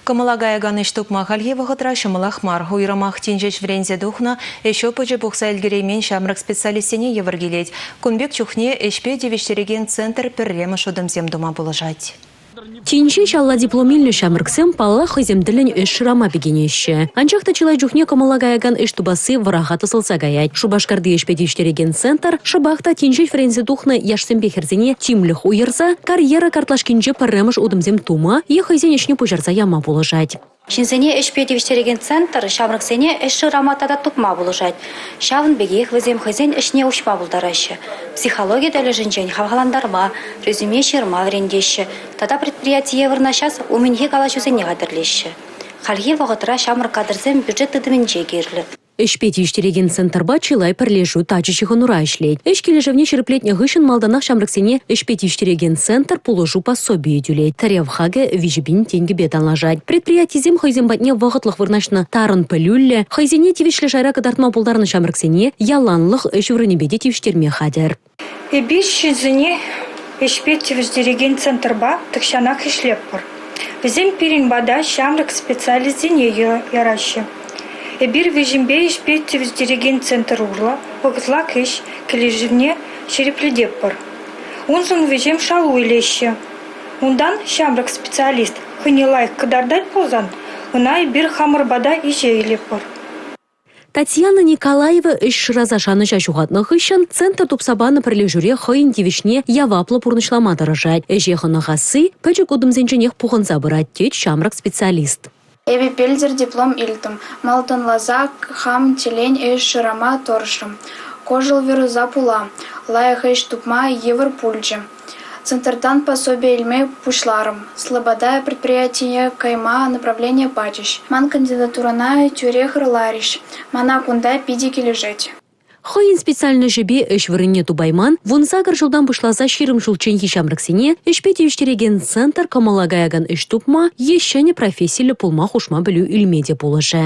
Кӑмӑла каякан ӗҫ тупма хальхи вӑхӑтра ҫӑмӑлах мар. Уйрӑмах тин ҫеҫ вӗренсе тухнӑ, ӗҫ опычӗ пухса ӗлкӗреймен ҫамрӑк специалистсене йывӑр килет. Кун пек чухне ӗҫпе тивӗҫтерекен центр пӗрремӗш утӑмсем тума пулӑшать. Тин ҫеҫ алла диплом илнӗ ҫамрӑксем, паллах, хӑйсем тӗллӗн ӗҫ шырама пикенеҫҫӗ. Анчах та чылай чухне кӑмӑла каякан ӗҫ тупасси вӑраха тӑсӑлса каять. Шупашкарти ӗҫпе тивӗҫтерекен центр шӑпах та тин ҫеҫ вӗренсе тухнӑ яшсемпе хӗрсене тимлӗх уйӑрса карьера картлашкинче пӗрремӗш утӑмсем тума е хӑйсен ӗҫне пуҫарса яма пулӑшать. Ҫынсене ӗҫпе тивӗҫтерекен центр ҫамрӑксене ӗҫ шырама тата тупма пулӑшать. Ҫавӑн пекех вӗсем хӑйсен ӗҫне уҫма пултараҫҫӗ. Психологи тӗлӗшӗнчен хавхалантарма, резюме ҫырма вӗрентеҫҫӗ тата предприятие вырнаҫас умӗнхи калаҫусене хатӗрлеҫҫӗ. Хальхи вӑхӑтра ҫамрӑк кадрсем бюджет тытӑмӗнче кирлӗ. Ӗҫпе тивӗҫтерекен центрпа чылай пӗрлешӳ тачӑ ҫыхӑнура ӗҫлет. Ӗҫ килӗшӗвне ҫирӗплетнӗ хыҫҫӑн малтанах ҫамрӑксене ӗҫпе тивӗҫтерекен центр пулӑшу пособийӗ тӳлет. Тӗрев хакӗ виҫӗ пин тенкӗпе танлашать. Предприятисем хӑйсем патне вӑхӑтлӑх вырнаҫнӑ тарӑн пӗлӳллӗ, хӑйсене тивӗҫлӗ шайра кӑтартма пултарнӑ ҫамрӑксене яланлӑх ӗҫ вырӑнӗпе те тивӗҫтерме хатӗр. Эпиҫсӗсене ӗҫпе тивӗҫтерекен центрпа тахҫанах ӗҫлетпӗр. Вӗсем пирӗн пата ҫамрӑк специалистсене яраҫҫӗ. Эпир вӗсемпе ӗҫпе тивӗҫтерекен центр урлӑ вӑхӑтлах ӗҫ килӗшӗвне ҫирӗплететпӗр. Уншӑн вӗсем шалу илеҫҫӗ. Унтан ҫамрӑк специалист хӑйне лайӑх кӑтартать пулсан, ӑна эпир хамӑр пата иҫе илетпӗр. Татьяна Николаева ӗҫ шыраса шанӑҫа ҫухатнӑ хыҫҫӑн центр тупса панӑ пӗрлешӳре хӑйӗн тивӗҫне яваплӑ пурнӑҫлама тӑрӑшать. Ӗҫе хӑнӑхасси пӗчӗк утӑмсенченех пухӑнса пырать, тет ҫамрӑк специалист. Эпӗ пӗлтӗр диплом илтӗм. Малтанласа хам телен ӗҫ шырама тӑрӑшрӑм. Кӑшӑлвируса пула лайӑх ӗҫ тупма йывӑр пулчӗ. Центртан пособие илме пуҫларӑм. Слобода предприятине кайма направление пачӗҫ. Ман кандидатурӑна тӳрех ырларӗҫ. Мана кунта питӗ килӗшет. Хӑйӗн специальноҫӗпе ӗҫ вырӑнне тупайман, вунсакӑр ҫултан пуҫласа ҫирӗм ҫулчченхи ҫамрӑксене ӗҫпе тивӗҫтерекен центр кӑмӑла каякан ӗҫ тупма е ҫӗнӗ профессиллӗ пулма хушма пӗлӳ илме те пулӑшӗ.